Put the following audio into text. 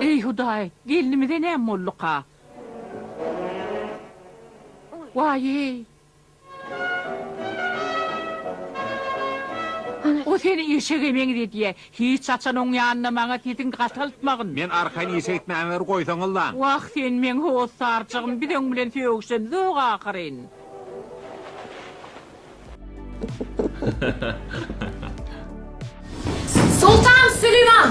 Eý, Hudaý, gelnimize näme bolduka? Waý-eý! O seni eşege meňzedýä. Hiç haçan oň ýanynda maňa sesiňi gataltmagyn. Men arkaýyn işe gitmämi bir goýsaňyzlaň. Wah, sen meň hossarjygym, biz oň bilen sögüşemizok ahyryn. Soltan Süleyman!